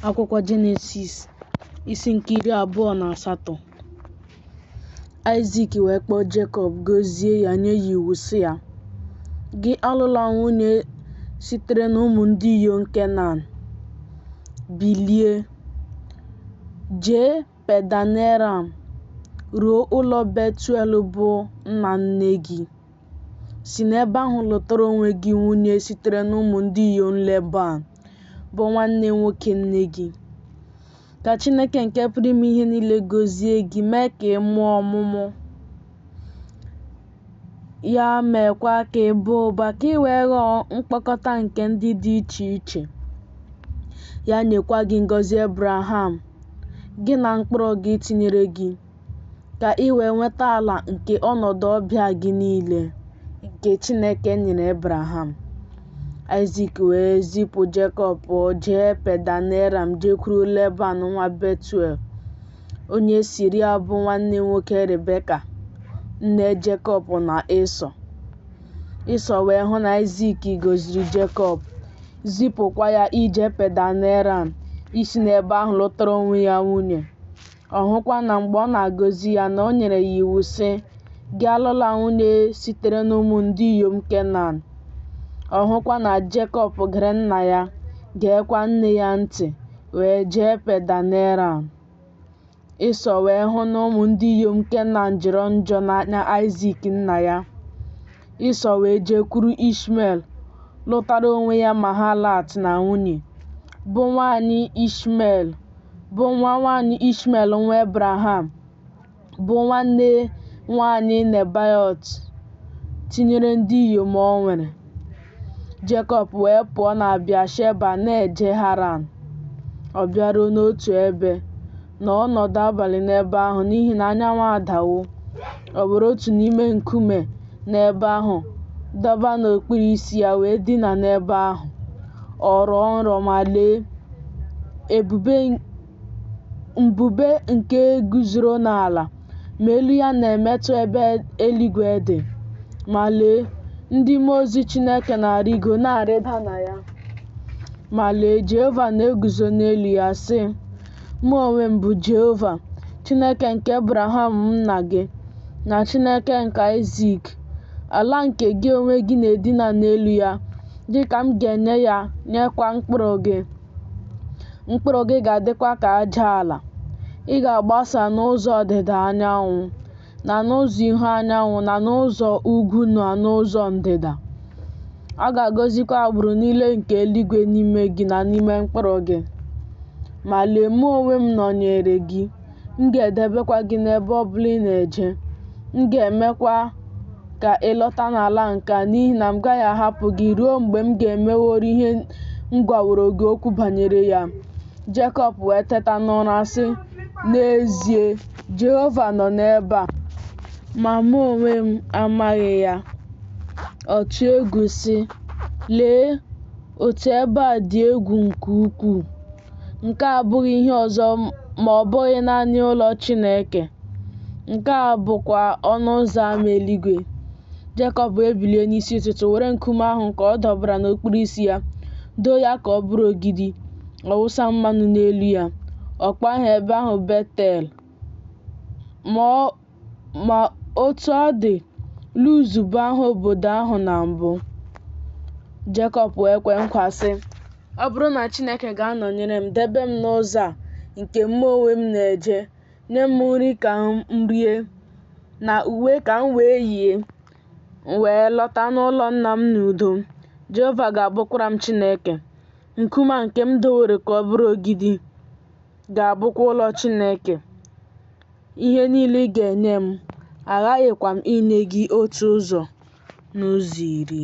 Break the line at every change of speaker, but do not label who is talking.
akwụkwọ jenesis isi nke iri abụọ na asatọ aịzik wee kpọọ jekọb gozie ya nye ya iwu sị ya gị alụla nwunye sitere n'ụmụ ndị inyom kenan bilie jee pedaneram ruo ụlọ betuel bụ nna nne gị Si n'ebe ahụ lụtara onwe gị nwunye sitere n'ụmụ ndị inyom Leban, bụ nwanne nwoke nne gị. Ka Chineke nke pụrụ ime ihe niile gozie gị, mee ka ị mụọ ọmụmụ, ya meekwa ka ị baa ụba, ka ị wee ghọọ mkpọkọta nke ndị dị iche iche. Ya nyekwa gị ngọzi Ebraham, gị na mkpụrụ gị tinyere gị. ka i wee nweta ala nke ọnọdụ ọbịa gị niile nke Chineke nyere Ebraham. Aịzik wee zipụ Jekọb, o jee Pedaneram jekwuru Leban nwa Betuel, onye Siria bụ nwanne nwoke Rebeka, nne Jekọb na Ịsọ. Ịsọ wee hụ na Aịzik gọziri Jekọb, zipụkwa ya ije Pedaneram isi n'ebe ahụ lụtara onwe ya nwunye. Ọ hụkwa na mgbe ọ na-agọzi ya na o nyere ya iwu sị, Gị alụla nwunye sitere n'ụmụ ndị inyom Kenan. Ọ hụkwa na Jekọb gere nna ya, geekwa nne ya ntị, wee jee Pedaneram. Ịsọ wee hụ na ụmụ ndị inyom Kenan jọrọ njọ n'anya Aịzik nna ya. Ịsọ wee jekwuru Ishmel, lụtara onwe ya Mahalat na nwunye, bụ nwaanyị Ishmel bụ nwa nwaanyị Ishmel nwa Ebraham, bụ nwanne nwaanyị Nebaiot, tinyere ndị inyom o nwere. Jekọb wee pụọ na Bịasheba na-eje Haran. Ọ bịaruo n'otu ebe, nọọ ọnọdụ abalị n'ebe ahụ n'ihi na anyanwụ adawo. O were otu n'ime nkume n'ebe ahụ dọba n'okpuru isi ya wee dina n'ebe ahụ. Ọ rọọ nrọ ma lee, ebube mbube nke guzoro n'ala ma elu ya na-emetụ ebe eluigwe dị. Ma lee, ndị mmụọ ozi Chineke na-arịgo na-arịda na ya. Ma lee, Jehova na-eguzo n'elu ya, sị, Mụ onwe m bụ Jehova, Chineke nke Abraham nna gị, na Chineke nke Aịzik. Ala nke gị onwe gị na-edina n'elu ya, gị ka m ga-enye ya nyekwa mkpụrụ gị. Mkpụrụ gị ga-adịkwa ka aja ala. Ị ga-agbasa n'ụzọ ọdịda anyanwụ, na n'ụzọ ihu anyanwụ na n'ụzọ ugwu na n'ụzọ ndịda. A ga-agọzikwa agbụrụ niile nke eluigwe n'ime gị na n'ime mkpụrụ gị. Ma lee, mụ onwe m nọnyeere gị, m ga-edebekwa gị n'ebe ọ bụla ị na-eje. M ga-emekwa ka ị lọta n'ala nke a, n'ihi na m gaghị ahapụ gị ruo mgbe m ga-emeworo ihe m gwaworo gị okwu banyere ya. Jekọb wee teta n'ụra, sị, N'ezie, Jehova nọ n'ebe a, ma mụ onwe m amaghị ya. Ọ tụọ egwu sị, Lee, otu ebe a dị egwu nke ukwuu! Nke a abụghị ihe ọzọ ma ọ bụghị naanị ụlọ Chineke, nke a bụkwa ọnụ ụzọ ama eluigwe. Jekọb wee bilie n'isi ụtụtụ were nkume ahụ nke ọ dọbara n'okpuru isi ya doo ya ka ọ bụrụ ogidi ọ wụsa mmanụ n'elu ya ọ kpọọ aha ebe ahụ betel ma otu ọ dị luz bụ aha obodo ahụ na mbụ jekọb wee kwe nkwa sị ọ bụrụ na chineke ga-anọnyere m debe m n'ụzọ a nke mụ onwe m na-eje Nye m nri ka m rie, na uwe ka m wee yie, m wee lọta n'ụlọ nna m n'udo. Jehova ga-abụkwara m Chineke. Nkume a nke m dowere ka ọ bụrụ ogidi ga-abụkwa ụlọ Chineke. Ihe niile ị ga-enye m, aghaghịkwa m inye gị otu ụzọ n'ụzọ iri.